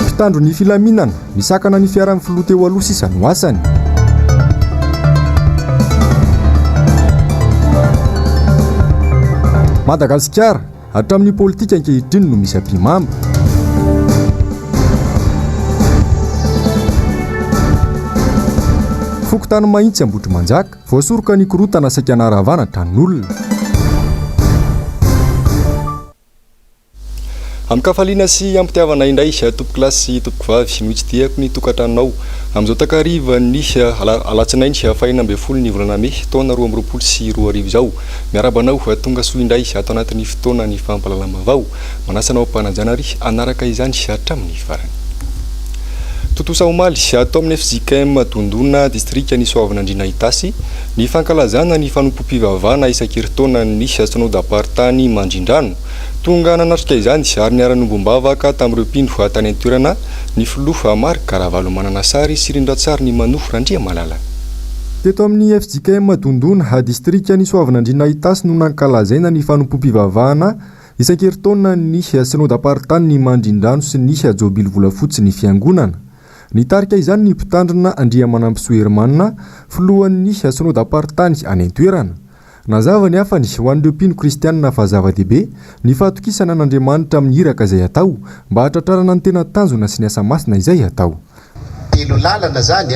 Mpitandro ny filaminana, misakana ny fiaran'ny filoha teo aloha sisa no asany. Madagasikara, hatramin'ny politika ankehitriny no misy ampihimamba. Fokontany Mahitsy Ambohitrimanjaka. Voasoroka ny korontana saika narahavana tranon'olona. Amin-kafaliana sy am-pitiavana indray tompokolahy sy tompokovavy no itsidihako ny tokantranonao amin'izao takarivan'ny alatsinainy fahenina ambin'ny folo ny volana mey taona roa amby roapolo sy roa arivo izao. Miarahaba anao tonga soa indray ato anatin'ny fotoanan'ny fampahalalam-baovao. Manasa anao am-panajana ary hanaraka izany hatramin'ny farany. Tontosa omaly, ato amin'ny fjkm Dondona, distrikan'i Soavinandriana Itasy, ny fankalazana ny fanompoam-pivavahana isan-kerintaonan'ny Synodam-paritany Mandrindrano. Tonga nanatrika izany ary niara-niombom-bavaka tamin'ireo mpino tany an-toerana ny filoha Marc Ravalomanana Sary sy Rindratsarinimanohy Randriamalala. Teto amin'ny fjkm Dondona, distrikan'i Soavinandriana Itasy no nankalazaina ny fanompoam-pivavahana Isan-kerintaona ny synodam-paritany ny mandrindrano sy ny jobily volafotsy ny fiangonana. Nitarika izany ny mpitandrina Andriamanampisoa Hermana, filohan'ny synodam-paritany any an-toerana. Nazava ny hafany ho an'ireo mpino kristianina fa zava-dehibe ny fahatokisana an'Andriamanitra amin'ny iraka izay atao mba hahatratrarana ny tena tanjona sy ny asa masina izay atao. Telo lalana izany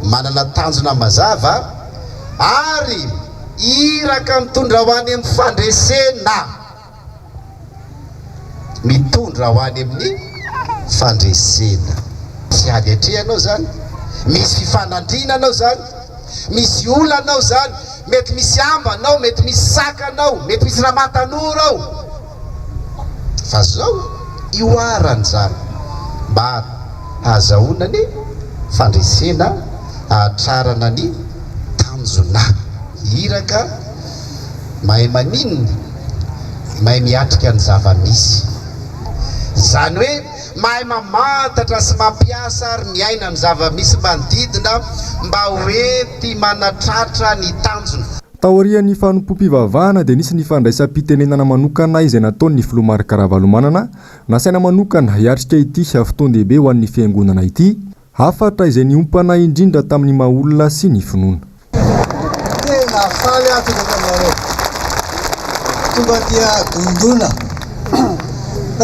manana tanjona mazava ary iraka mitondra ho any amin'ny fandresena. Mitondra ho any amin'ny fandresena. Misy ady atrehanao izany, misy fifanandriana anao izany, misy olana ao izany, mety misy ambanao, mety misy sakanao, mety misy ramatanora ao. Fa zao ihoarany zany mba hahazahoana ny fandresena hahatrarana ny tanjona. Iraka mahay maninona? Mahay miatrika ny zava-misy. Izany hoe mahay mamantatra sy mampiasa ary miaina ny zava-misy manodidina mba hoenti-manatratra ny tanjona. Taorian'ny fanompoam-pivavahana dia nisy ny fandraisam-pitenenana manokana izay nataon'ny Filoha Marc Ravalomanana, nasaina manokana hiatrika ity fotoan-dehibe ho an'ny Fiangonana ity, hafatra izay niompana indrindra tamin'ny maha olona sy ny finoana. Tena faly aho tonga taminareo. Tonga dia dondona.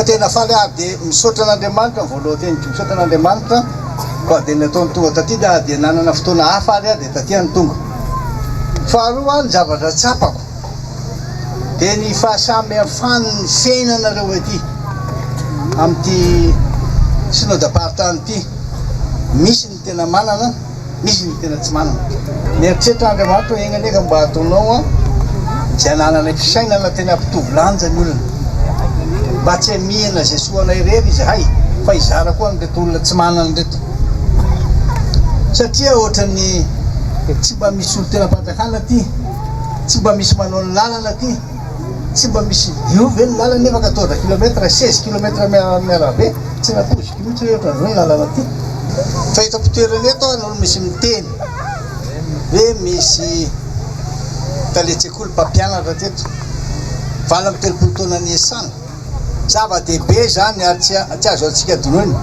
Tena faly aho dia misaotra an'Andriamanitra ny voaloha teny dia misaotra an'Andriamanitra fa dia nataony tonga taty dia dia nanana fotoana hafa ary aho dia taty aho no tonga. Faharoa ny zavatra tsapako dia ny fahasamihafan'ny fiainanareo ety amin'ity synodam-paritany ity. Misy Ny tena manana, misy ny tena tsy manana. Mieritreritra Andriamanitra hoe enganie ka mba ataonao izay anananay fisainana tena hampitovy lanja ny olona. Mba tsy hamihina izay soa anay irery izahay fa hizara koa an'ireto olona tsy manana ireto. Satria ohatran'ny tsy mba misy olon-tenam-panjakana aty, tsy mba misy manao ny lalana aty. Tsy mba misy dio ve ny lalana nefa quatorze kilomètre, seize kilomètre amin'ny arabe? Tsy nampoiziko mihitsy hoe ohatran'izao ny lalana aty. Fa eto am-pitoerana eto aho no misy miteny hoe misy talen-tsekoly mpampianatra teto valo amby telopolo taona niasana. Zava-dehibe izany ary tsy azo antsika donoina.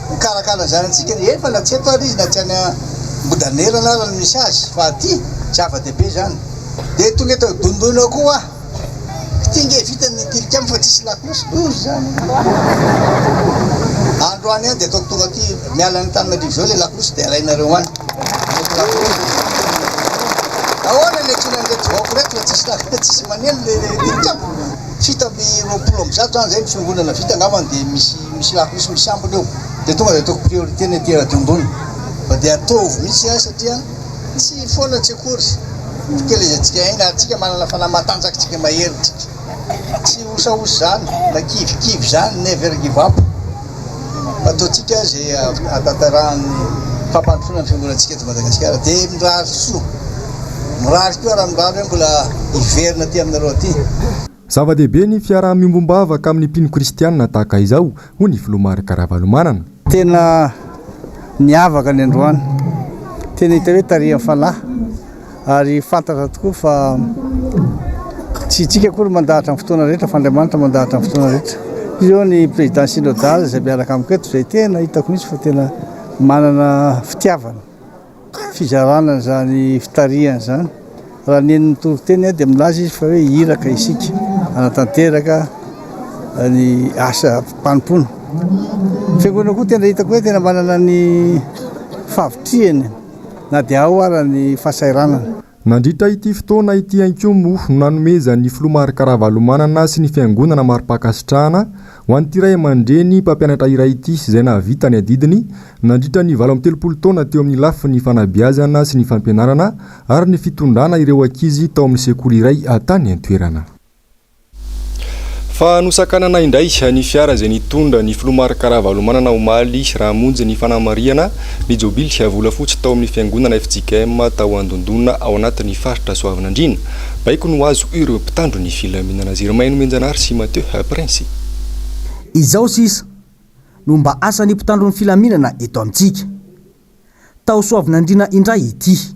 Mikarakara ny zanatsika rehefa na tsy eto ary izy na tsy any ambodanerana ary no misy azy fa aty zava dehibe zany de tonga eto dondoina ao koa aho ity nge vita ny tilikambo fa tsisy lakolosy loza zany androany any de ataoko tonga aty miala any antananarivo zao le lakolosy de alainareo any ahoana ny antsoina an'ireto vahoaka ireto fa tsisy lakolosy tsisy maneno le tilikambo Fito amby roapolo amby zato zany zay ny fiangonana vita angambany dia misy misy lafo misy misy ambiny eo dia tonga dia ataoko priorité ny aty Radiombony fa dia ataovy mihitsy zany satria tsy foana tsy akory fikelezantsika aina ary tsika manana fanahy matanjaka tsika mahery tsika tsy osaosa zany na kivikivy zany never give up ataontsika izay ahatantarahan'ny fampandrosoana ny fiangonantsika eto Madagasikara dia mirary soa, mirary koa raha mirary hoe mbola hiverina aty aminareo aty. Zava-dehibe ny fiaraha-miombom-bavaka amin'ny mpino kristianina tahaka izao, hoy ny Filoha Marc Ravalomanana. Tena niavaka ny androany, tena hita hoe tarihan'ny fanahy. Ary fantatra tokoa fa tsy isika akory no mandahatra amin'ny fotoana rehetra fa Andriamanitra mandahatra amin'ny fotoana rehetra. Izy ireo ny président synodal izay miaraka amiko eto izay tena hitako mihitsy fa tena manana fitiavana fizarana an'izany fitarihana izany. Raha neny ny toriteny aho dia milaza izy fa hoe iraka isika hanatanteraka ny asa mpanompoana. Fiangonana koa tena hitako hoe tena manana ny favitrihany. na dia ao ara ny fahasahiranana. Nandritra ity fotoana ity ihany koa moa no nanomezan'ny Filoha Marc Ravalomanana sy ny Fiangonana mari-pankasitrahana ho an'ity ray aman-dreny mpampianatra iray ity izay nahavita ny adidiny nandritra ny valo amby telopolo taona teo amin'ny lafiny fanabeazana sy ny fampianarana ary ny fitondrana ireo ankizy tao amin'ny sekoly iray tany an-toerana. Fa nosakanana indray ny fiara izay nitondra ny filoha Marc Ravalomanana omaly raha hamonjy ny fanamarihana ny jobily volafotsy tao amin'ny fiangonana fjkm tao Andondona ao anatin'ny faritra Soavinandriana. Baiko no azo ireo mpitandro ny filaminana Zirimaino Mianjanahary sy Mathieu Prince. Izao sisa no mba asan'ny mpitandro ny filaminana eto amintsika. Tao Soavinandriana indray ity.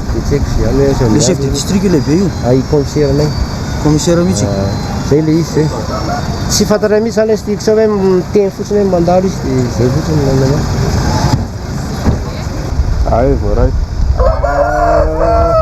Le chef de district io lehibe io? Ay commissaire nay. Commissaire mihitsy? Ahh zay le izy zay. Tsy fantatray mihitsy zany sty sao hoe miteny fotsiny hoe mandalo izy de zay fotsiny no hainay. Ay voaray. Ahh.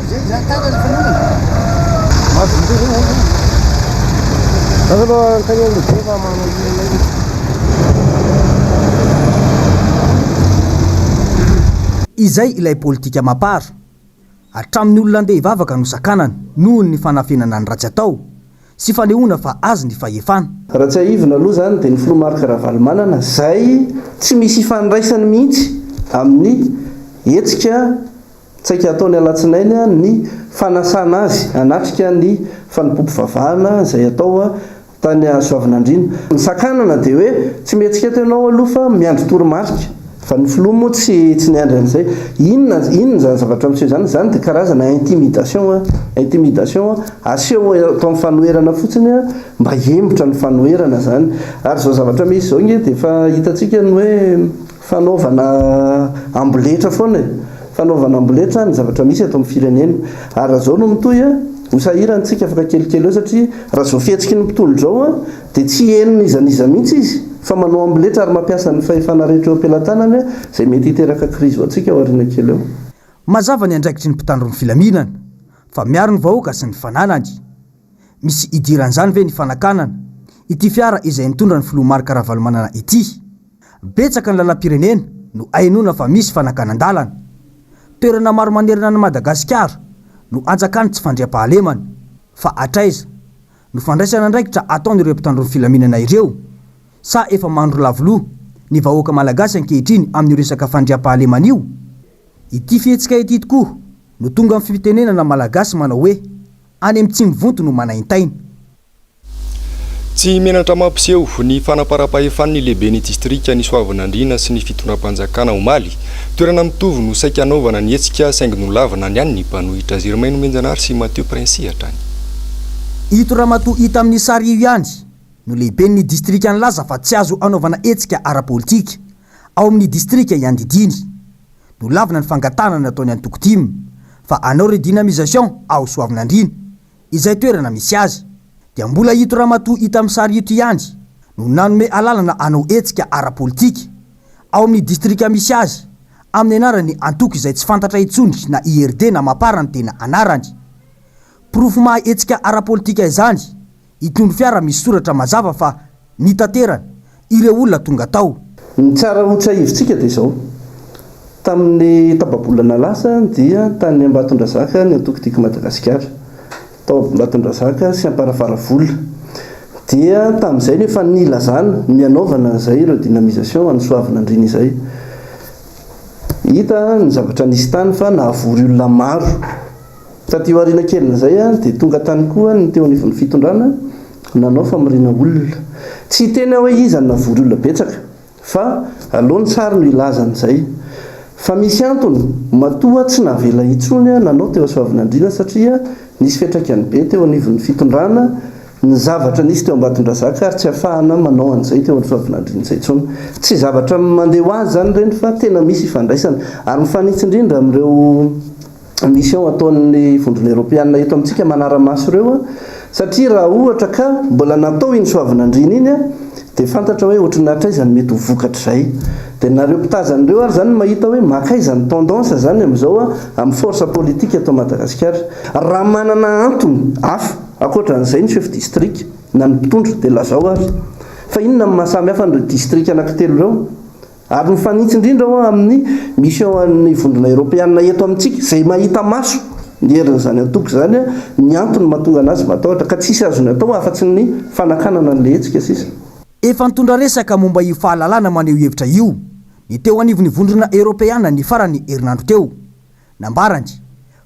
Izay ilay politika Mapar. Hatramin'ny olona andeha hivavaka no sakanana, noho ny fanafenana ny ratsy atao. sy fanehoana fa azy ny fahefana. Raha tsiahivina aloha izany dia ny filoha Marc Ravalomanana izay tsy misy ifandraisany mihitsy amin'ny hetsika tsaika hataony alatsinainy ny fanasana azy hanatrika ny fanompoam-pivavahana izay hatao tany Soavinandriana. Ny sakanana dia hoe tsy mihetsiketa ianao aloha fa miandry toromarika. Fa ny filoha moa tsy tsy niandry an'izay. Inona inona izany zavatra miseho izany? Izany dia karazana intimidation an, intimidation an. Aseho atao ny fanoherana fotsiny an, mba hihemotra ny fanoherana izany. Ary izao zavatra misy izao ange dia efa hitantsika ny hoe fanaovana amboletra foana e. Fanaovana amboletra ny zavatra misy eto amin'ny firenena. Ary raha izao no mitohy an, ho sahirantsika afaka kelikely eo satria raha izao fihetsiky ny mpitondra izao an, dia tsy heno n'iza n'iza mihitsy izy fa manao amboletra ary mampiasa ny fahefana rehetra eo am-pelatanany izay mety hiteraka krizy ho antsika ao aoriana kely eo. Mazava ny andraikitry ny mpitandro ny filaminana fa miaro ny vahoaka sy ny fananany. Misy idiran'izany ve ny fanakanana ity fiara izay nitondra ny filoha Marc Ravalomanana ity? Betsaka ny lalam-pirenena no henoina fa misy fanakanan-dalana. Toerana maro manerana an'i Madagasikara no anjakan'ny tsy fandriampahalemana. Fa hatraiza? no fandraisana andraikitra ataon'ireo mpitandro ny filaminana ireo sa efa mandro lavo loha ny vahoaka malagasy ankehitriny amin'io resaka fandriampahalemana io? Ity fihetsika ity tokoa no tonga amin'ny fitenenana malagasy manao hoe, any amin'ny tsy mivonto no manaintaina. Tsy menatra mampiseho ny fanamparam-pahefany ny lehiben'ny distrikan'i Soavinandriana sy ny fitondram-panjakana omaly. Toerana mitovy no saika hanaovana ny hetsika saingy nolavina ny an'ny mpanohitra. Germain Nomenjanahary sy Mathieu Princy hatrany. Ito ramatoa hita amin'ny sary io ihany no lehiben'ny distrika nilaza fa tsy azo anaovana hetsika ara-politika ao amin'ny distrika iandidiany. Nolavina ny fangatahana nataon'ny antoko tim fa hanao redynamisation ao Soavinandriana, izay toerana misy azy, dia mbola ito ramatoa hita amin'ny sary ito ihany no nanome alalana hanao hetsika ara-politika ao amin'ny distrika misy azy amin'ny anaran'ny antoko izay tsy fantatra intsony na IRD na Mapar ny tena anarany. Porofo maha hetsika ara-politika izany itondro fiara misy soratra mazava fa nitaterany ireo olona tonga tao. Ny tsara ho tsiahivintsika dia izao, tamin'ny tapa-bolana lasa dia tany Ambatondrazaka ny antoko Tiako Madagasikara, tao Ambatondrazaka sy Amparafaravola, dia tamin'izay no efa nilazana ny hanaovana an'izay ireo dynamisation ho an'ny Soavinandriana izay. Hita ny zavatra nisy tany fa nahavory olona maro. Taty aoriana kelin'izay ary dia tonga tany koa ny teo anivon'ny fitondrana nanao famoriana olona. Tsy hiteny aho hoe iza no navory olona betsaka fa aleo ny sary no hilaza an'izay. Fa misy antony matoa tsy navela intsony nanao teo Soavinandriana satria nisy fiantraikany be teo anivon'ny fitondrana ny zavatra nisy teo Ambatondrazaka ary tsy afahana manao an'izay teo amin'ny Soavinandriana izay intsony. Tsy zavatra mandeha ho azy izany ireny fa tena misy ifandraisana ary mifanitsy indrindra amin'ireo mission ataon'ny vondrona eropeanina eto amintsika manara-maso ireo an, satria raha ohatra ka mbola natao iny soavinandriana iny an, dia fantatra hoe ohatran'ny hatraiza no mety ho vokatr'izay. Dia nareo mpitazana ireo ary izany no mahita hoe mankaiza ny tendance izany amin'izao an, amin'ny force politique eto Madagasikara. Raha manana antony hafa ankoatran'izay ny chef district na ny mpitondra dia lazao ary. Fa inona no maha samy hafa an'ireo district anankitelo ireo? Ary mifanitsy indrindra aho amin'ny Mission an'ny Vondrona Eropeana eto amintsika, izay mahita maso ny herin'izany antoko izany, ny antony mahatonga an'azy matahotra, ka tsisy azony atao afa-tsy ny fanakanana an'ilay hetsika sisa. Efa nitondra resaka momba io fahalalana maneho hevitra io ny teo anivon'ny Vondrona Eropeana ny faran'ny herinandro teo. Nambarany,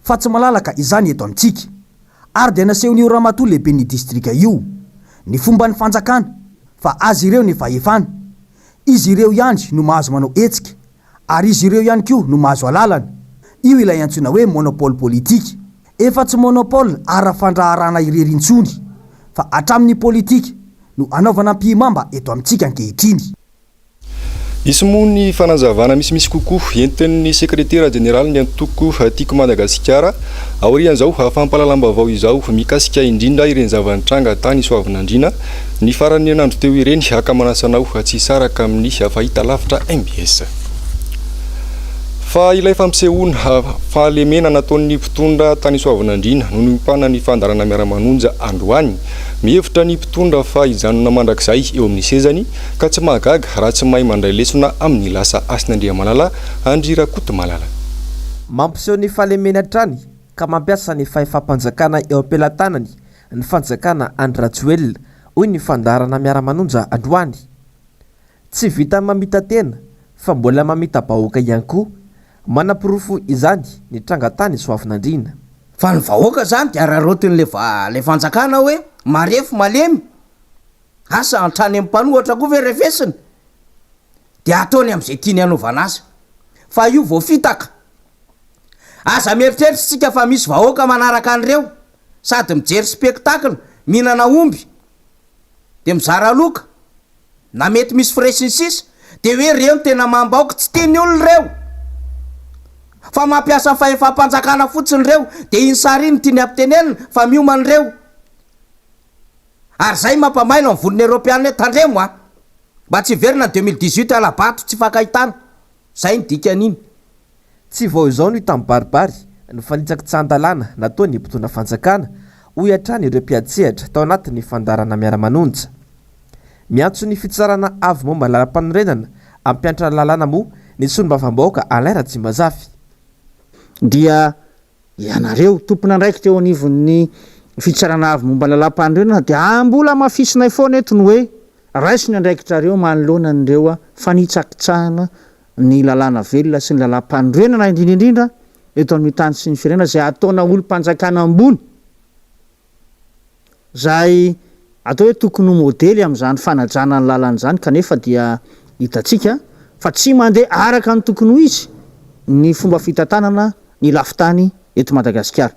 fa tsy malalaka izany eto amintsika. Ary dia nasehon'io Ramatoa Lehiben'ny Distrika io, ny fomban'ny fanjakana, fa azy ireo ny fahefana, Izy ireo ihany no mahazo manao hetsika, ary izy ireo ihany koa no mahazo alalana. Io ilay antsoina hoe monopole politika. Efa tsy monopole ara-fandraharahana irery intsony, fa hatramin'ny politika no anaovana ampihimamba eto amintsika ankehitriny. Hisy moa ny fanazavana misimisy kokoa entin'ny Sekretera Jeneralin'ny Antoko Tiako Madagasikara, aorian'izao fampahalalam-baovao izao mikasika indrindra ireny zava-nitranga tany Soavinandriana Ny faran'ny herinandro teo ireny, haka manasa anao tsy hisaraka amin'ny fahitalavitra mbs. Fa ilay fampisehoana fahalemena nataon'ny mpitondra tany Soavinandriana no niompana ny fandaharana Miara-manonja androany. Mihevitra ny mpitondra fa hijanona mandrakizay eo amin'ny sezany ka tsy mahagaga raha tsy mahay mandray lesona amin'ny lasa hasin'Andriamanala an-dry Rakotomalala. Mampiseho ny fahalemeny hatrany ka mampiasa ny fahefam-panjakana eo am-pelatanany ny fanjakana Andry Rajoelina, hoy ny fandaharana Miara-manonja androany. Tsy vitan'ny mamita-tena fa mbola mamita-bahoaka ihany koa. Manaporofo izany ny tranga tany Soavinandriana. Fa ny vahoaka izany dia araraotin'ilay fanjakana hoe marefo malemy. Asa hatrany amin'ny mpanohatra koa ve refesiny? Dia ataony amin'izay tiany hanaovana azy. Fa io vao fitaka. Aza mieritreritra isika fa misy vahoaka manaraka an'ireo. sady mijery spectacle, mihinana omby, dia mizara loka, na mety misy frais sy ny sisa, dia hoe ireo no tena mamba ok, tsy tian'ny olona ireo fa mampiasa ny fahefam-panjakana fotsiny ireo, dia iny sary iny no tiany hampitenenina fa miomana ireo, ary zay mampamailo ny vonona eropeana hoe tandremo a! mba tsy hiverina ny deux mille dix-huit hala-bato tsy hifankahitana, zay ny dikany iny. Tsy vao izao no hita mibaribary ny fanitsakitsy tsy ahan-dalàna nataon'ny mpitondra fanjakana, hoy hatrany ireo mpiantsehatra tao anatin'ny fandaharana Miara-manonja. Miantso ny fitsarana avo momba ny lalampanorenana hampiantra lalàna moa ny solombavambahoaka Alain Ratsimazafy. Dia ianareo, tompon'andraikitra eo anivon'ny fitsarana avo momba ny lalampanorenana dia mbola hamafisinay foana eto ny hoe, raiso ny andraikitrareo manoloana an'ireo fanitsakitsahana ny lalàna velona sy ny lalàm-panorenana indrindra indrindra eto amin'ny tany sy ny firenena izay ataona olom-panjakana ambony izay atao hoe tokony ho modely amin'izany fanajana ny lalana izany kanefa dia hitantsika fa tsy mandeha araka ny tokony ho izy ny fomba fitantanana ny lafin-tany eto Madagasikara.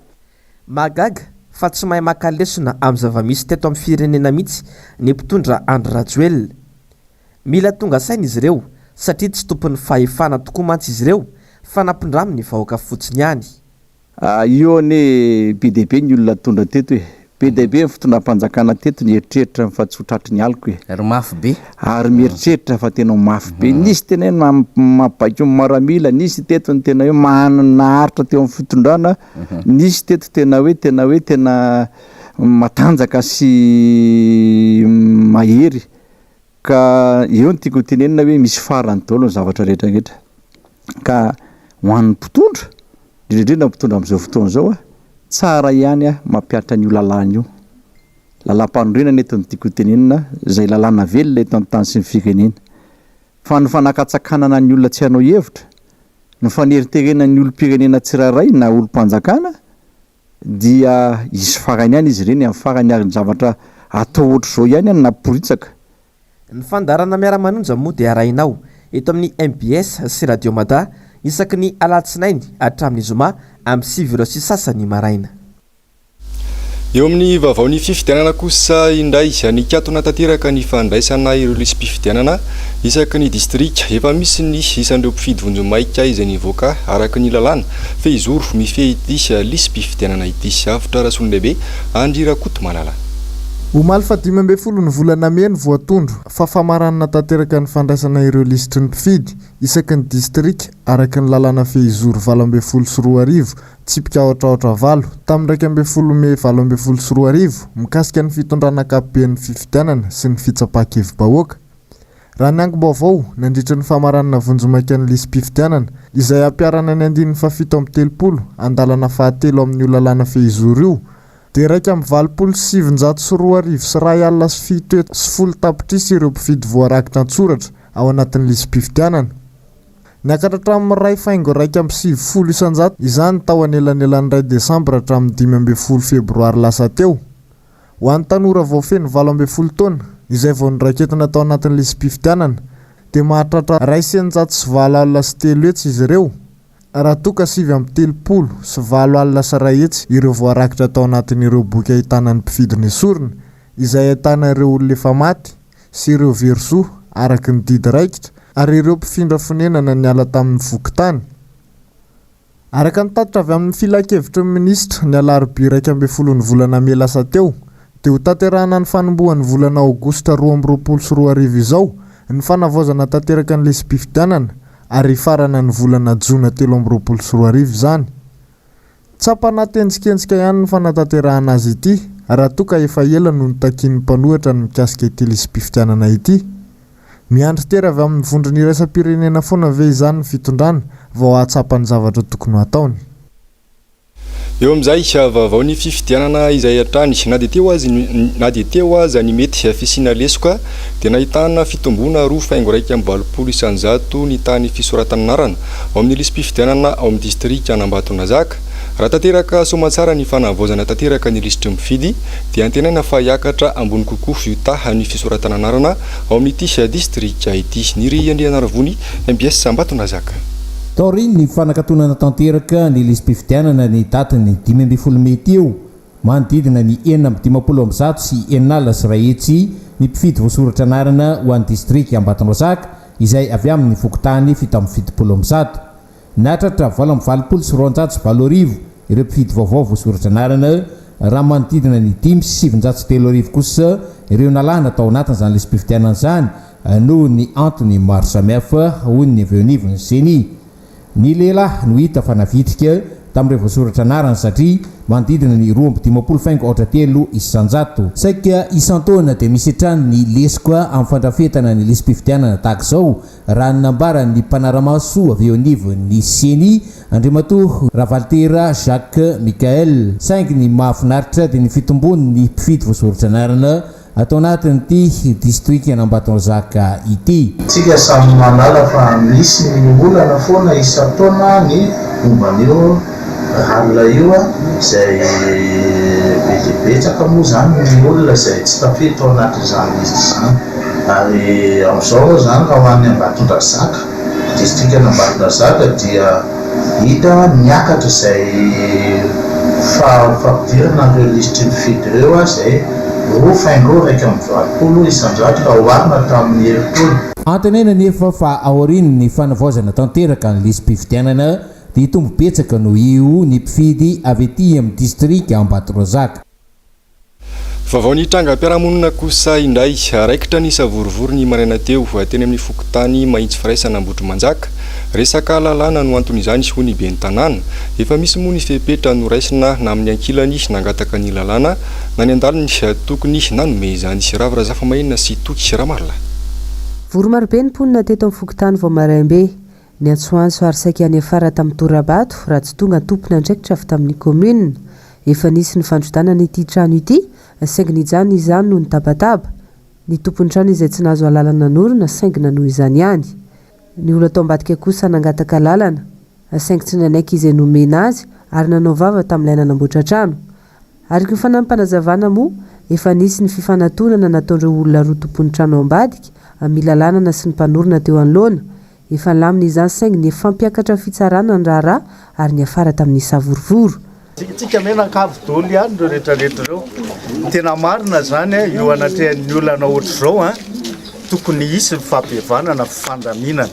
Mahagaga fa tsy mahay maka lesona amin'ny zava-misy teto amin'ny firenena mihitsy ny mpitondra Andry Rajoelina. Mila tonga saina izy ireo satria tsy tompon'ny fahefana tokoa mantsy izy ireo fa nampindramin'ny vahoaka fotsiny ihany. Io anie be dia be ny olona nitondra teto e! Be dia be ny fitondram-panjakana teto nieritreritra fa tsy ho tratry ny aliko e! Ry mafy be. Ary mieritreritra fa tena ho mafy be. Nisy tena hoe mabaiko ny maramila, nisy teto ny tena hoe naharitra teo amin'ny fitondrana, nisy teto tena hoe tena hoe tena matanjaka sy mahery. Ka eo no tiako hotenenina hoe misy farany daholo ny zavatra rehetra rehetra. Ka ho an'ny mpitondra, indrindra indrindra ny mpitondra amin'izao fotoana izao a, tsara ihany a mampihatra an'io lalàna io. Lalàmpanorenana eto no tiako hotenenina, izay lalàna velona eto amin'ny tany sy ny firenena. Fa ny fanakatsakanana ny olona tsy hanao hevitra, ny faneriterena ny olom-pirenena tsirairay na olom-panjakana dia hisy farany ihany izy ireny amin'ny farany ary ny zavatra atao ohatr'izao ihany no namporitsaka. Ny fandaharana Miara-manonja moa dia arahinao eto amin'ny mbs sy Radio Mada isaky ny alatsinainy hatramin'ny zoma amin'ny sivy ora sy sasany maraina. Eo amin'ny vaovaon'ny fifidianana kosa indray, nikatona tanteraka ny fandraisana ireo lisi-pifidianana isaky ny distrika. Efa misy ny isan'ireo mpifidy vonjimaika izay nivoaka araka ny lalàna Fehizoro, mifehy ity lisi-pifidianana ity sy avotra Rasolondehibe Andry Rakotomalala. Omaly faha dimy ambin'ny folo ny volana mey ny voatondro fa famaranana tanteraka ny fandraisana ireo lisitry ny mpifidy isaky ny distrika araka ny lalàna Fehizoro valo ambin'ny folo sy roa arivo, tsipika aotraotra valo, tamin'ny iraika ambin'ny folo mey valo ambin'ny folo sy roa arivo mikasika ny fitondrana ankapoben'ny fifidianana sy ny fitsapan-kevi-bahoaka. Raha ny angom-baovao, nandritra ny famaranana vonjimaika ny lisi-pifidianana, izay hampiharana ny andininy fahafito amby telopolo, andalana fahatelo amin'io lalàna fehizoro io, dia iraika amby valopolo sy sivinjato sy roa arivo sy iray alina sy fito hetsy sy folo tapitrisa ireo mpifidy voarakitra an-tsoratra ao anatin'ny lisi-pifidianana. Niakatra hatramin'ny iray faingo iraika amby sivifolo isan-jato izany tao anelanelan'ny iray desambra hatramin'ny dimy ambin'ny folo febroary lasa teo. Ho an'ny tanora vao feno valo ambin'ny folo taona, izay vao noraiketina tao anatin'ny lisi-pifidianana, dia mahatratra iray sy eninjato sy valo alina sy telo hetsy izy ireo, raha toa ka sivy amby telopolo sy valo alina sy iray hetsy ireo voarakitra tao anatin'ireo boky ahitana ny mpifidy nesorina, izay ahitana ireo olona efa maty sy ireo very zo araka ny didy raikitra, ary ireo mpifindra fonenana niala tamin'ny fokontany. Araka ny tatitra avy amin'ny Filankevitry ny Minisitra, ny alarobia iraika ambin'ny folon'ny volana mey lasa teo, dia ho tanterahana ny fanombohan'ny volana aogositra roa amby roapolo sy roa arivo izao ny fanavaozana tanteraka ny lisi-pifidianana ary hifarana ny volana jona telo amby roapolo sy roa arivo izany. Tsapana tenjikenjika ihany ny fanatanterahana azy ity raha toa ka efa ela no nitakian'ny mpanohitra ny mikasika ity lisi-pifidianana ity. Miandry tera avy amin'ny vondrona iraisam-pirenena foana ve izany ny fitondrana vao hahatsapa ny zavatra tokony ho ataony? Eo amin'izay, vaovao ny fifidianana izay hatrany, na dia teo aza na dia teo aza ny mety fisiana lesoka, dia nahitana fitomboana roa faingo iraika amby valopolo isanjato ny tany fisoratan'anarana ao amin'ny lisi-pifidianana ao amin'ny distrikan'Ambatonazaka. Raha tanteraka soamantsara ny fanavaozana tanteraka ny lisitry ny mpifidy, dia antenaina fa hiakatra ambony kokoa io tahan'ny fisoratan'anarana ao amin'ity Distrika ity. Niry Andrianarivony, mbs Ambatonazaka. Taorian'ny fanakatonana tanteraka ny lisi-pifidianana ny datin'ny dimy ambin'ny folo mey teo, manodidina ny enina amby dimampolo amby zato sy enina alina sy iray hetsy ny mpifidy voasoratra anarana ho an'ny Distrika Ambatonazaka izay avy amin'ny fokontany fito amby fitopolo amby zato. Nahatratra valo amby valopolo sy roanjato sy valo arivo ireo mpifidy vaovao voasoratra anarana, raha manodidina ny dimy sy sivinjato sy telo arivo kosa ireo nalana tao anatin'izany lisi-pifidianana izany noho ny antony maro samihafa, hoy ny avy eo anivon'ny Ceni. Ny lehilahy no hita fa navitrika tamin'ireo voasoratra anarana satria manodidina ny roa amby dimampolo faingo aotra telo isanjato. Saika isan-taona dia misy hatrany ny lesoka amin'ny fandrafetana ny lisi-pifidianana tahaka izao raha ny nambaran'ny mpanara-maso avy eo anivon'ny Ceni, Andriamatoa Ravalitera Jacques Michael. Saingy ny mahafinaritra dia ny fitombon'ny mpifidy voasoratra anarana ato anatin'ity distrikan'Ambatonzaka ity. Isika samy mahalala fa misy ny olana foana isan-taona ny momba an'io Alina io izay be dia betsaka moa izany ny olona izay tsy tafiditra ao anatin'izany lisitra izany ary amin'izao moa izany raha ho any Ambatondrazaka, distrikan' Ambatondrazaka dia hita niakatra izay fampidirana ireo lisitry ny fidy ireo izay roa faingo iraika amby valopolo isan-jato raha oharina tamin'ny herintaona. Antenaina anefa fa aorian'ny fanavaozana tanteraka ny lisi-pifidianana dia hitombo betsaka noho io ny mpifidy avy ety amin'ny distrika Ambatondrazaka. Vaovao ny trangam-piarahamonina kosa indray. Raikitra ny savorovoro ny maraina teo, teny amin'ny fokontany Mahitsy Firaisana Ambohitrimanjaka. Resaka lalàna no anton'izany hoy ny ben'ny tanàna. Efa misy moa ny fepetra noraisina na amin'ny ankilany nangataka ny lalàna na ny andaliny tokony nanome izany. Ravo Razafimaina sy Toky Ramarolahy. Vory marobe ny mponina teto amin'ny fokontany vao maraim-be. Niantsoantso ary saika niafara tamin'ny tora-bato raha tsy tonga tompon'andraikitra avy tamin'ny kaominina. Efa nisy ny fandrodanana ity trano ity, saingy nijanona izany noho ny tabataba. Ny tompon'ny trano izay tsy nahazo alalana nanorina saingy nanohy izany ihany. Ny olona tao ambadika kosa nangataka alalana, saingy tsy nanaiky izay nomena azy ary nanao vava tamin'ilay nanamboatra trano. Araka ny fanampim-panazavana moa, efa nisy ny fifanatonana nataon'ireo olona roa tompon'ny trano ao ambadika amin'ny lalànana sy ny mpanorina teo anoloana. Efa nilamina izany saingy nifampiakatra amin'ny fitsarana ny raharaha ary niafara tamin'ny savorovoro. Tsikintsika mianankavy dolo ihany ireo retraretra ireo. Tena marina izany an, eo anatrehan'ny olana ohatr'izao an, tokony hisy ny fahabevanana, fifandaminana.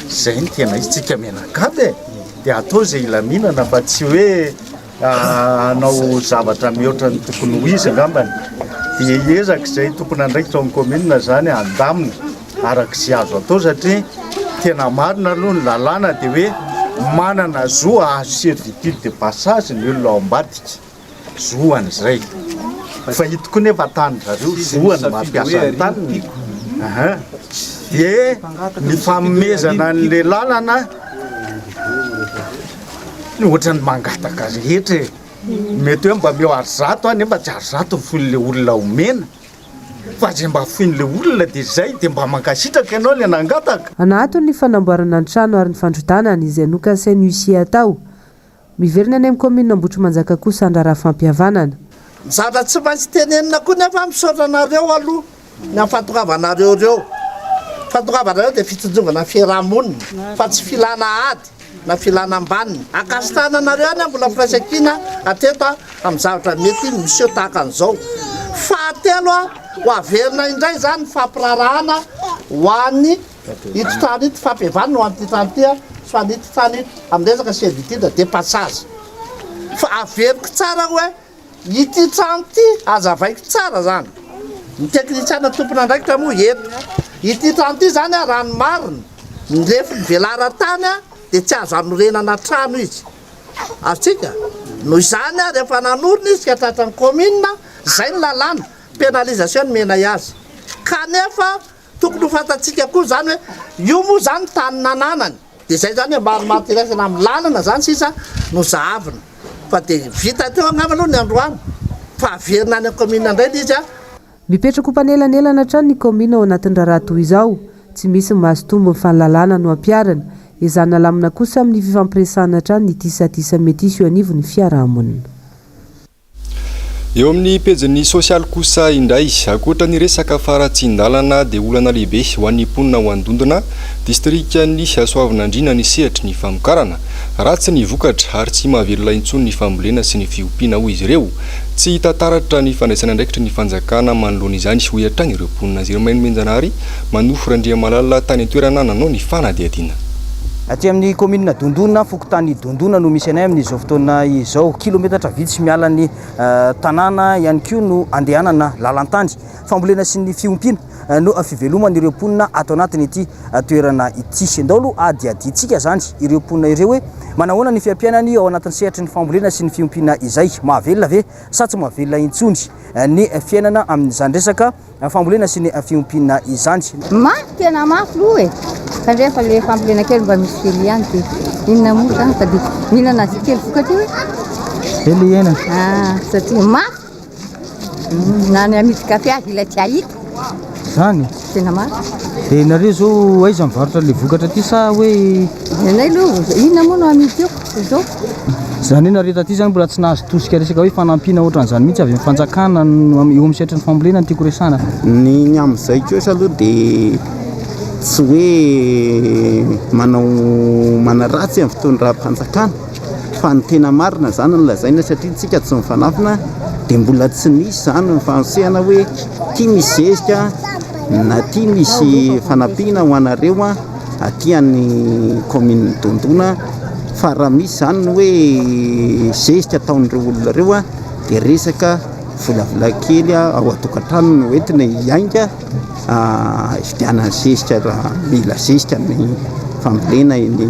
Izay no tena izy, tsika mianankavy e, dia atao izay hilaminana fa tsy hoe hanao zavatra mihoatra ny tokony ho izy angambany dia hiezaka izay tompon'andraikitra ao amin'ny kaominina izany handamina araka izay azo atao satria tena marina aloha ny lalàna dia hoe manana zo hahazo servitude de passage ny olona ao ambadika, zoany izay. Fa ito koa nefa tanin-dry zareo, zoany ny mampiasa ny taniny. Aha. Dia ny fanomezana an'ilay lalana Ny ohatran'ny mangataka rehetra e! Mety hoe mba meo ary zato any mba tsy ary zato ny foin'ilay olona omena fa izay mba foin'ilay olona dia izay dia mba mankasitraka ianao ilay nangataka. Anahaton ny fanamboarana ny trano ary ny fandrotana ny izay nokasain'ny huissier atao. Miverina any amin'ny kaominina Ambohitrimanjaka kosa handrara fampihavanana. Zara tsy maintsy tenenina koa nefa misaotra anareo aloha. Ny amin'ny fahatongavanareo ireo. Ny fahatongavanareo dia fitsinjovana ny fiaraha-monina fa tsy filana ady na filana ambaniny. Ankasitrahana anareo ihany aho mbola firaisankina hatreto amin'ny zavatra mety miseho tahaka an'izao. Fahatelo, ho averina indray izany ny fampiraharahana ho an'ny ito trano ito, fampihavana ho an'ity trano ity sy ho an'ito trano ito amin'ny resaka servitude de passage. Fa averiko tsara hoe Ity trano ity, hazavaiko tsara izany, ny teknisiana tompon'andraikitra moa eto. Ity trano ity izany, raha ny marina, ny lefiny velaran-tany dia tsy azo hanorenana trano izy. Azontsika? Noho izany, rehefa nanorina izy ka tratran'ny kaominina, izay ny lalàna, pénalisation nomenay azy. Kanefa, Tokony ho fantatsika koa izany hoe io moa izany ny tany nananany, dia izay izany hoe maromaro tiraisana amin'ny lalana izany sisa no zahavina, fa dia vita teo angamba aloha ny androany fa averina any amin'ny kaominina indray ilay izy an! Mipetraka ho mpanelanelana hatrany ny kaominina ao anatin'ny raharaha toa izao, tsy misy ny mazotombo ny fanilalana no ampiharina, ezahina alamina kosa amin'ny fifampiresahana hatrany ny tisatisa mety hisy eo anivon'ny fiarahamonina. Eo amin'ny pejin'ny sosialy kosa indray, ankoatra ny resaka faharatsian-dalana dia olana lehibe ho an'ny mponina ao Andondona, distrikan'i Soavinandriana ny sehatry ny famokarana. Ratsy ny vokatra ary tsy mahavelona intsony ny fambolena sy ny fiompiana hoy izy ireo. Tsy hita taratra ny fandraisana andraikitry ny fanjakana manoloana izany hoy hatrany ireo mponina. Zerimain Menjanahary, Manofy Randriamalala tany an-toerana nanao ny fanadihadiana. Aty amin'ny kaominina Dondona, fokontany. Dondona no misy anay amin'izao fotoana izao. Kilometatra vitsy miala ny tanàna ihany koa no andehanana lalan-tany. Fambolena sy ny fiompiana no fiveloman'ireo mponina ato anatin'ity toerana ity. Ndao aloha hadihadiantsika izany ireo mponina ireo hoe manahoana ny fiampiainany ao anatin'ny sehatry ny fambolena sy ny fiompiana izay. Mahavelona ve sa tsy mahavelona intsony ny fiainana amin'izany resaka? fambolena sy ny fiompiana izany. Mafy tena mafy loha e! Fa ndray fa le fambolena kely mba misy kely ihany de inona moa zany fa de mila nazy kely vokatra io e! Kely ihena. Ah, satria mafy. Mm, na ny amidy kafe azy ilay tsy hahita. Zany? Tena mafy. De nareo zao aiza mivarotra le vokatra ty sa hoe? Ianay aloha inona moa no amidy io? Izany hoe nareo taty izany mbola tsy nahazo tosika resaka hoe fanampiana ohatran'izany mihitsy avy amin'ny fanjakana eo amin'ny sehatry ny fambolena no tiako resahana. Ny ny amin'izay kosa aloha dia tsy hoe manao manaratsy amin'ny fitondram-panjakana fa ny tena marina izany no lazaina satria isika tsy mifanafina dia mbola tsy nisy izany ny fanosehana hoe ity misy zezika na ity misy fanampiana ho anareo. aty any kaominina Dondona fa raha misy izany ny hoe zezika ataon'ireo olona ireo dia resaka volavila kely ao an-tokantrano no entina hiainga hividianana zezika raha mila zezika ny fambolena eny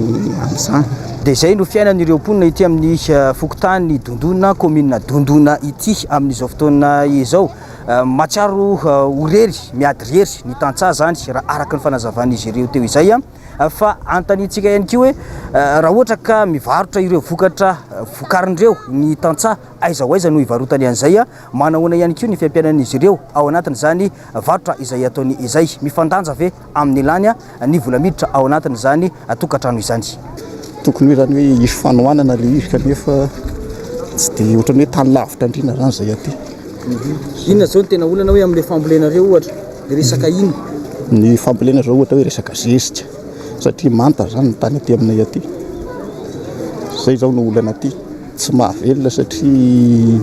amin'izany. Dia izay no fiainan'ireo mponina ity amin'ny fokontany Dondona, kaominina Dondona ity amin'izao fotoana izao. Mahatsiaro ho rery, miady rery ny tantsaha izany raha araka ny fanazavan'izy ireo teo izay. Fa anontaniantsika ihany koa hoe raha ohatra ka mivarotra ireo vokatra vokariny ireo ny tantsaha, aiza ho aiza no hivarotany an'izay? Manahoana ihany koa ny fiampianan'izy ireo ao anatin'izany varotra izay ataony izay? Mifandanja ve? amin'ny lany ny vola miditra ao anatin'izany tokantrano izany. Tokony hoe zany hoe hisy fanohanana le izy kanefa tsy dia ohatran'ny hoe tany lavitra andriana zany zay aty. Mhm. Inona zao ny tena olana hoe amin'le fambolena reo ohatra, resaka ina? Ny fambolena zao ohatra hoe resaka zezika satria manta zany ny tany aty aminay aty. Zay zao no olana aty. Tsy mahavelona satria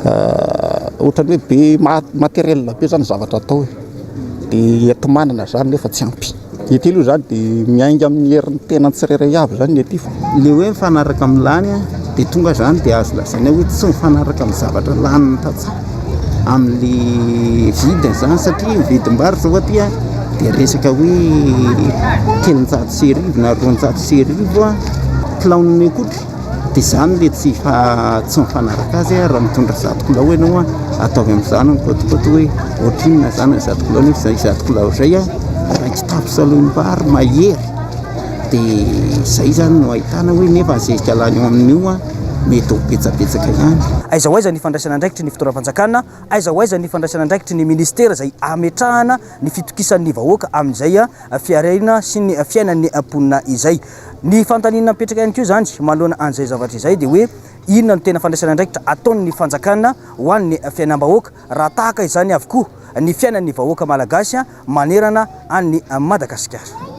ah, ohatran'ny hoe be matériel be zany zavatra atao e. dia eto manana izany nefa tsy ampy ny ety aloha izany dia miainga amin'ny herin'ny tenany tsirairay avy izany ny ety fa ilay hoe mifanaraka amin'ny lany dia tonga izany dia azo lazaina hoe tsy mifanaraka amin'ny zavatra lanin'ny tantsaha amin'ny vidiny izany satria ny vidim-bary izao aty dia resaka hoe telonjato sy arivo na roanjato sy arivo kilaon'ny akoho Dia izany ilay tsy mifanaraka azy an, raha mitondra zato kilao ianao an, ataovy amin'izany ny côte-côte hoe ohatrinona izany ny zato kilao nefa izay zato kilao izay an, raha kitapo salonim-bary mahery dia izay izany no ahitana hoe nefa ny zezika lany ao amin'io an, mety ho betsabetsaka ihany. Aiza ho aiza ny fandraisana andraikitry ny fitondram-panjakana? Aiza ho aiza ny fandraisana andraikitry ny ministera izay hametrahana ny fitokisan'ny vahoaka amin'izay fiareina sy ny fiainan'ny mponina izay? Ny fanontaniana mipetraka ihany koa izany manoloana an'izay zavatra izay dia hoe inona no tena fandraisana andraikitra ataon'ny fanjakana ho an'ny fiainam-bahoaka raha tahaka izany avokoa ny fiainan'ny vahoaka malagasy manerana an'i Madagasikara.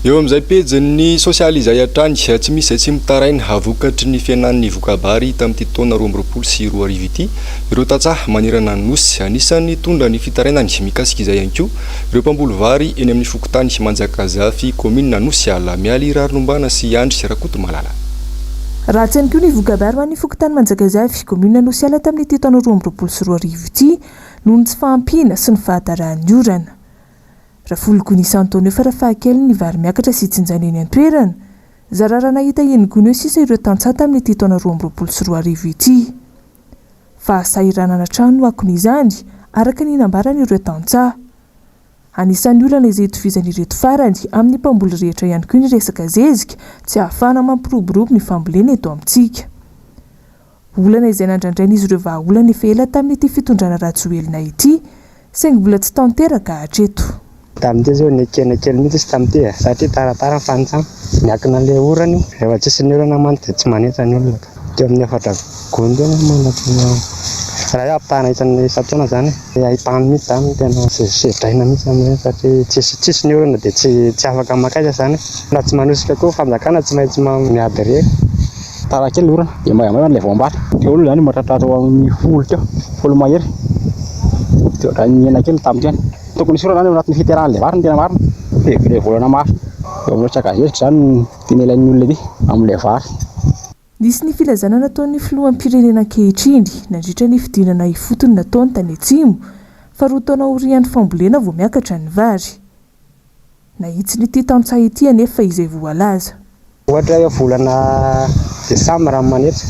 Eo amin'izay pejin'ny sosialy izay hatrany, tsy misy izay tsy mitaraina ha vokatry ny fihenan'ny voka-bary tamin'ity taona roa amby roapolo sy roa arivo ity ireo tantsaha manerana ny Nosy. Anisan'ny nitondra ny fitarainany mikasika izay ihany koa Ireo mpamboly vary eny amin'ny fokontany Manjakazafy, kaominina Anosiala, Mialy Rarinombana sy Andry Rakotomalala. Ratsy ihany koa ny voka-bary ho an'ny fokontany Manjakazafy, kaominina Anosiala tamin'ity taona roa amby roapolo sy roa arivo ity noho ny tsy fahampiana sy ny fahadarahan'ny orana. Rafologony isan-taona eo farafahakeliny ny vary miakatra sy tsinjaina eny an-toerana. Zara raha nahita eny gony eo sisa ireo tantsaha tamin'ity taona roa amby roapolo sy roa arivo ity. Fahasahiranana hatrany no akony izany, araka ny nambaran'ireo tantsaha. Anisan'ny olana izay itovizan'ireto farany amin'ny mpamboly rehetra ihany koa ny resaka zezika tsy ahafahana mampiroborobo ny fambolena eto amintsika. Olana izay nandrandrain'izy ireo vahaolana efa ela tamin'ity fitondrana Rajoelina ity Saingy mbola tsy tanteraka hatreto. Tamin'ity izao nekena kely mihitsy izy tamin'ity e! Satria taratara ny fanintsana. Miankina amin'ilay orana io. Rehefa tsisy ny orana mantsy dia tsy manetsa ny olona ka. Teo amin'ny efatra gony teo ianao manatona raha hoe ampitahana isan'ny isan-taona izany e! Ilay haintany mihitsy izany no tena sedraina mihitsy amin'ireny satria tsisy tsisy ny orana dia tsy tsy afaka maka aiza izany e! Raha tsy manosika koa ny fanjakana tsy maintsy miady re! Tara kely ny orana dia maivamaiva ilay voam-bary. Teo aloha izany mahatratratra ho amin'ny folo teo, folo mahery. Dia ohatran'ny nihena kely tamin'ny teny. Tokony hisy orana any ao anatin'ny fiterahan'ilay vary ny tena marina, dia ilay volana maro. Eo amin'ny resaka zezika izany no tena ilain'ny olona ety amin'ilay vary. Nisy ny filazana nataon'ny filoham-pirenena ankehitriny, nandritra ny fidinana ifotony nataony tany Atsimo, fa roa taona aorian'ny fambolena vao miakatra ny vary. Nahitsiny ity tantsaha ity anefa izay voalaza. Ohatra eo volana desambra ny manetsa,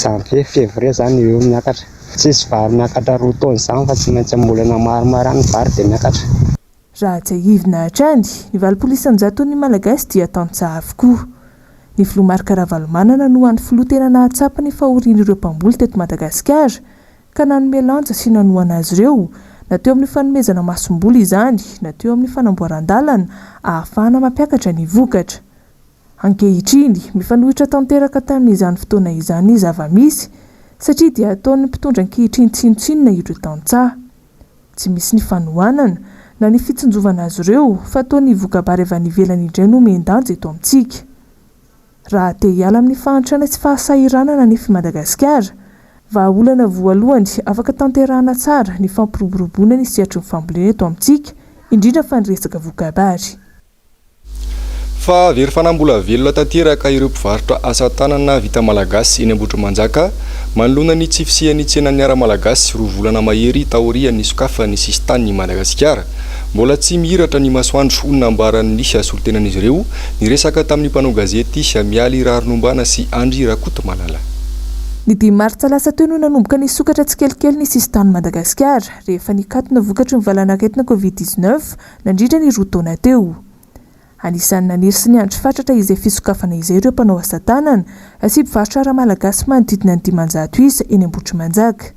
janvier, février izany eo eo miakatra. Tsy hisy vary miakatra roa taona izany fa tsy maintsy ambolena maromaro ihany ny vary dia miakatra. Raha tsiahivina hatrany, ny valopolo isan-jaton'ny Malagasy dia tantsaha avokoa. Ny Filoha Marc Ravalomanana no hany filoha tena nahatsapa ny fahorian'ireo mpamboly teto Madagasikara, ka nanome lanja sy nanohana azy ireo, na teo amin'ny fanomezana masomboly izany, na teo amin'ny fanamboaran-dalana ahafahana mampiakatra ny vokatra. Ankehitriny, mifanohitra tanteraka tamin'izany fotoana izany ny zava-misy, satria dia ataon'ny mpitondra ankehitriny tsinontsinona ireo tantsaha. Tsy misy ny fanohanana, na ny fitsinjovana azy ireo, fa toa ny voka-bary avy any ivelany indray no omen-danja eto amintsika. Raha te hiala amin'ny fahantrana sy fahasahiranana an'ify Madagasikara, vahaolana voalohany afaka tanterahana tsara ny fampiroboroboana ny sehatry ny fambolena eto amintsika, indrindra fa ny resaka voka-bary. Fa very fanahy mbola velona tanteraka ireo mpivarotra asa tanana vita malagasy eny Ambohitrimanjaka, manoloana ny tsy fisian'ny tsenan'ny Ara-malagasy roa volana mahery taorian'ny sokafan'ny sisin-tanin'i Madagasikara. Mbola tsy mihiratra ny masoandro, hoy ny nambaran'ny solontenan'izy ireo, niresaka tamin'ny mpanao gazety Mialy Raharinombana sy Andry Rakotomalala. Ny dimy martsa lasa teo no nanomboka nisokatra tsikelikely ny sisin-tanin'i Madagasikara, rehefa nikatona vokatry ny valanaretina Covid dix-neuf nandritra ny roa taona teo. Anisan'ny naniry sy niandry fatratra izay fisokafana izay ireo mpanao asa tanana sy mpivarotra ara-malagasy manodidina ny dimanjato isa eny Ambohitrimanjaka.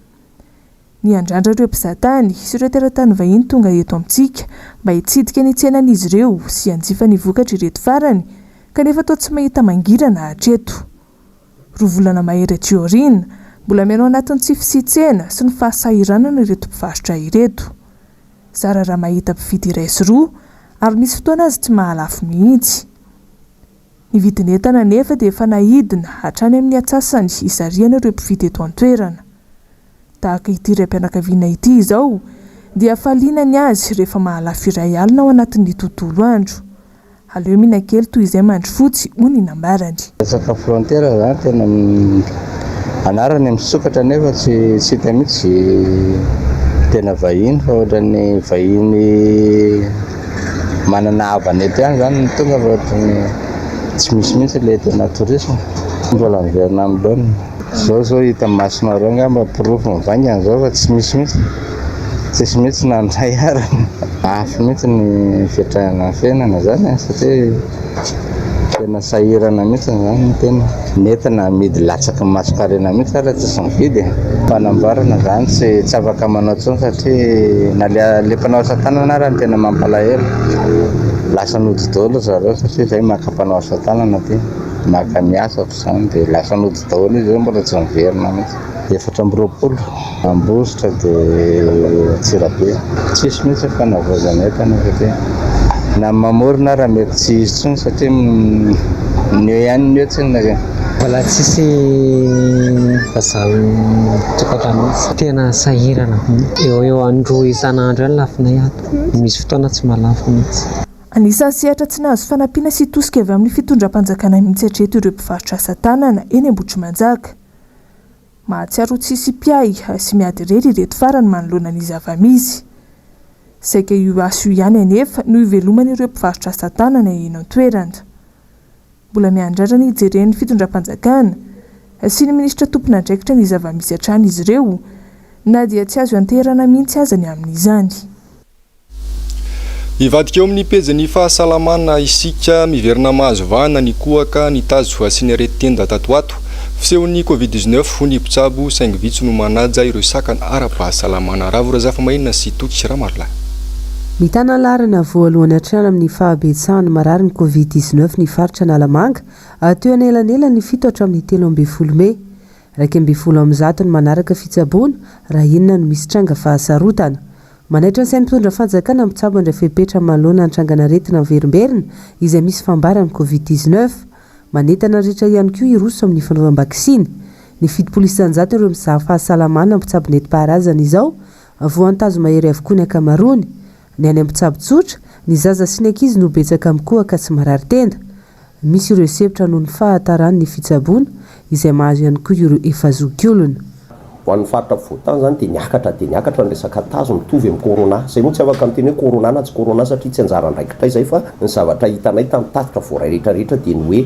Miandrandra ireo mpizatany sy ireo teratany vahiny tonga eto amintsika mba hitsidika ny tsenan'izy ireo sy hanjifa ny vokatry ireto farany kanefa toa tsy mahita mangirana hatreto. Roa volana mahery aty aoriana, mbola mihaino anatin'ny tsy fisian-tsena sy ny fahasahiranana ireto mpivarotra ireto. Zara raha mahita mpividy iray sy roa ary misy fotoana aza tsy mahalafo mihitsy. Ny vidin'entana anefa dia efa nahidina hatrany amin'ny atsasany izariana ireo mpividy eto an-toerana. Tahaka ity raim-pianakaviana ity izao dia faliana ny azy rehefa mahalafy iray alina ao anatin'ny tontolo andro. Aleo mihinana kely toy izay mandry fotsy, hoy ny nambarany. Resaka frontière zany tena anarany misokatra nefa tsy tsy hita mihitsy tena vahiny fa ohatran'ny vahiny manana havana eto ihany zany no tonga fa ohatran'ny tsy misy mihitsy le tena tourisme. Mbola miverina amin'ny laoniny. Zao zao hita masonareo ngamba porofo mivaingana zao fa tsy misy mihitsy tsisy mihitsy nandray ary mafy mihitsy ny fiatrahana fiainana zany e satria tena sahirana mihitsy zany ny tena nentina amidy latsaky ny masonkarena mihitsy ary tsisy mividy e. Fanamboarana zany tsy tsy afaka manao tsony satria na le le mpanao asa tanana ary tena mampalahelo lasa nody dolo zareo satria zay maka mpanao asa tanana aty maka miasa. Izany dia lasa nody daholo izy ireo mbola tsy niverina mihitsy. Efatra amby roapolo Ambositra dia Antsirabe. Tsisy mihitsy ny fanavaozana entana satria na ny mamorona ara mety tsy hisy intsony satria ny eo ihany ny eo tsinona. Mbola tsisy vazaha ao an-tokantrano mihitsy. Tena sahirana be. Eo ho eo an-droa isan'andro eo ny lafinay ato. Misy fotoana tsy mahalafo mihitsy. Anisan'ny sehatra tsy nahazo fanampiana sy tosika avy amin'ny fitondram-panjakana mihitsy hatreto ireo mpivarotra asa tanana eny Ambohitrimanjaka. Mahatsiaro ho tsisy mpiahy sy miady irery ireto farany manoloana ny zava-misy. Saika io asa io ihany anefa no iveloman'ireo mpivarotra asa tanana eny an-toerana. Mbola miandrandra ny hijeren'ny fitondram-panjakana sy ny minisitra tompon'andraikitra ny zava-misy hatrany izy ireo na dia tsy azo ianteherana mihitsy aza ny amin'izany. Hivadika eo amin'ny pejin'ny fahasalamana isika, miverina mahazo vahana ny kohaka nitazo ho asiany areti-tenda tato ho ato. Fisehon'ny Covid dix neuf hoy ny mpitsabo, saingy vitsy no manaja ireo sakana ara-pahasalamana. Ravo Razafamainina sy Toky Ramalolahy. Mitana ny laharana voalohany hatrany amin'ny fahabetsahan'ny marary ny Covid dix neuf ny faritra Analamanga, teo anelanelan'ny fito hatramin'ny telo ambin'ny folo mey. Iraika ambin'ny folo amin'ny zato ny manaraka fitsaboana raha inona no misy tranga fahasarotana. Manaitra ny sain'ny mpitondra fanjakana mpitsabo andra fepetra manoloana ny trangan'aretina miverimberina izay misy fambaran'ny Covid dix neuf. Manentana ny rehetra ihany koa hiroso amin'ny fanaovam-baksiny. Ny fitopolo isanjato ireo mizaha fahasalamana mpitsabo nentim-paharazana izao voantazo mahery avokoa ny ankamaroany. Ny any amin'ny mpitsabo tsotra, ny zaza sy ny ankizy no betsaka mikohaka sy marary tenda. Misy ireo hisempotra noho ny fahataran' ny fitsaboana, izay mahazo ihany koa ireo efa zokiolona. Ho an'ny faritra afovoan-tany izany dia niakatra dia niakatra ny resaka tazo mitovy amin'ny corona. Izay moa tsy afaka miteny hoe corona na tsy corona satria tsy anjara andraikitray izay fa ny zavatra hitanay tamin'ny tatitra voaray rehetra rehetra dia ny hoe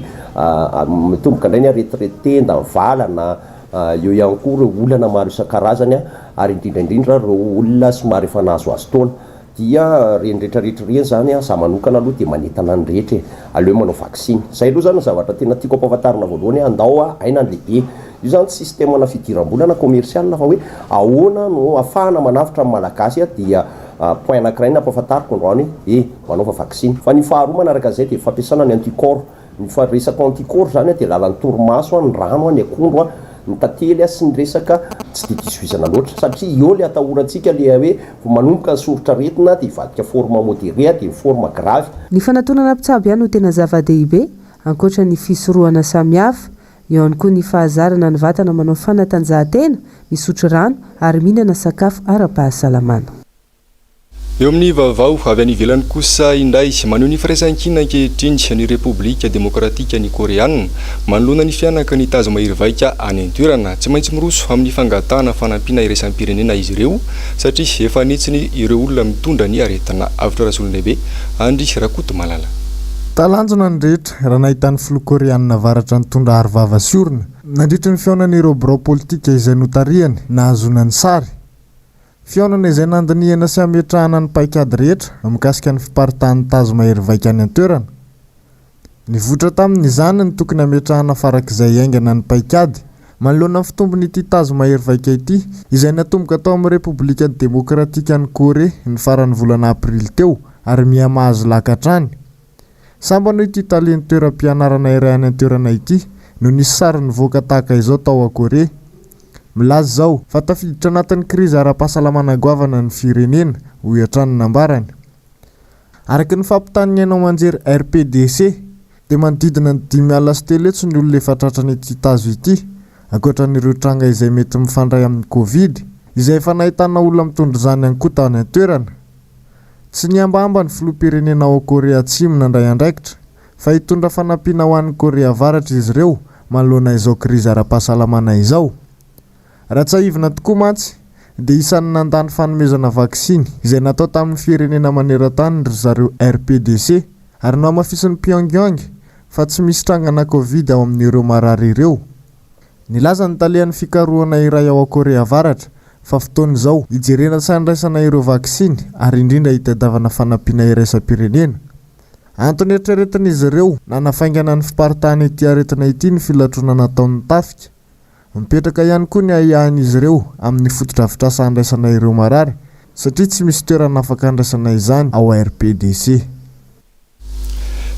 mitomboka indray ny aretirety tenda, ny valana, eo ihany koa ireo olana maro isan-karazany ary indrindra indrindra ireo olona somary efa nahazoazo taona. Dia reny rehetra rehetra ireny izany an, za manokana aloha dia manentana ny rehetra e, aleo manao vaksiny. Zay aloha izany no zavatra tena tiako ampahafantarina voalohany hoe andao a, aina ny lehibe. Io izany tsy système na fidiram-bola na commercial fa hoe ahoana no ahafahana manavotra ny Malagasy an, dia point anakiray ny ampahafantariko androany hoe e, manaova vaksiny. Fa ny faharoa manaraka an'izay dia fampiasana ny anti-corps. Ny faharesako anti-corps izany dia lalan'ny torimaso, ny rano, ny akondro, ny tantely sy ny resaka tsy dia diso vizana loatra satria eo ilay atahorantsika ilay hoe vao manomboka ny soritr'aretina dia hivadika forme modéré dia ny forme grave. Ny fanatonana mpitsabo ihany no tena zava-dehibe, ankoatra ny fisorohana samihafa. Eo ihany koa ny fahazarana ny vatana manao fanatanjahantena, misotro rano ary mihinana sakafo ara-pahasalamana. Eo amin'ny vaovao avy any ivelany kosa indray, maneho ny firaisankina ankehitriny ny Repoblika Demokratikan'i Koreana manoloana ny fihanaky ny tazo mahery vaika any an-toerana. Tsy maintsy miroso amin'ny fangatahana fanampiana iraisam-pirenena izy ireo satria efa an'hetsiny ireo olona mitondra ny aretina avotra Rasolondehibe Andry Rakotomalala. Talanjona ny rehetra raha nahita ny filoha Koreana Avaratra nitondra arovava sy orona nandritra ny fihaonan'ireo birao politika izay notarihany nahazoana ny sary. Fihaonana izay nandinihana sy hametrahana ny paikady rehetra mikasika ny fiparitahan'ny tazo mahery vaika any an-toerana. Nivoitra tamin'izany ny tokony hametrahana farak'izay haingana ny paikady manoloana ny fitombon'ity tazo mahery vaika ity izay natomboka tao amin'ny Repoblika Demokratikan'i Korea ny faran'ny volana aprily teo ary miha-mahazo laka hatrany. Sambany hoy ity talen'ny toeram-pianarana iray any an-toerana ity no nisy sary nivoaka tahaka izao tao Akorea. Milaza izao fa tafiditra anatin'ny krizy ara-pahasalamana goavana ny firenena, hoy hatrany ny nambarany. Araka ny fampitan'ny haino aman-jery RPDC, dia manodidina ny dimy alina sy telo hetsy ny olona efa tratran'ity tazo ity, ankoatra an'ireo tranga izay mety mifandray amin'ny Covid, izay efa nahitana olona mitondra izany ihany koa tany an-toerana. Tsy nihambahamba ny filoham-pirenena ao Korea Atsimo nandray andraikitra, fa hitondra fanampiana ho an'i Korea Avaratra izy ireo manoloana izao krizy ara-pahasalamana izao. Raha tsiahivina tokoa mantsy, dia isan'ny nandà ny fanomezana vaksiny izay natao tamin'ny firenena maneran-tany ry zareo RPDC, ary nohamafisin'i Pyongyang fa tsy misy trangana Covid ao amin'ireo marary ireo. Nilaza ny talehan'ny fikarohana iray ao Korea Avaratra, fa fotoana izao hijerena sy handraisana ireo vaksiny ary indrindra hitadiavana fanampiana iraisam-pirenena. Antony eritreretin'izy ireo nanafaingana ny fiparitahan' ity aretina ity ny filatroana nataon'ny tafika. Mipetraka ihany koa ny ahiahin'izy ireo amin'ny fotodrafitrasa handraisana ireo marary, satria tsy misy toerana afaka handraisana izany ao RPDC.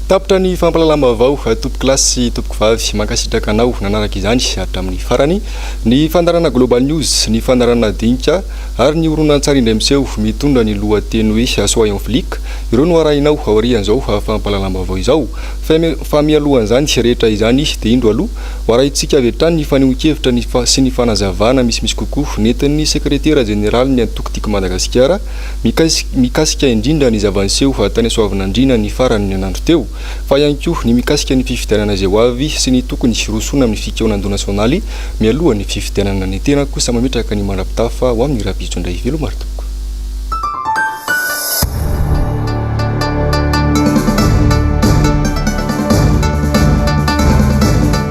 Tapitra ny fampahalalam-baovao tompoko lahy sy tompoko vavy. Mankasitraka anao nanaraka izany hatramin'ny farany. Ny fandaharana Global News, ny fandaharana Dinika ary ny horonantsary indray miseho mitondra ny lohateny hoe Soyons Flics, ireo no arahinao aorian'izao fampahalalam-baovao izao. Fa mialohan'izany rehetra izany dia indro aloha ho arahintsika avy hatrany ny fanehoan-kevitra sy ny fanazavana misimisy kokoa nentin'ny Sekretera Jeneralin'ny Antoko Tiako Madagasikara, Mikasika indrindra ny zava-niseho tany Soavinandriana ny faran'ny herinandro teo, fa ihany koa ny mikasika ny fifidianana izay ho avy sy ny tokony hirosoana amin'ny fikaonandoha nasionaly mialohan'ny fifidianana ny tena kosa mametraka ny mandrapitafa ho amin'i Rabijo indray Velomary tompoko.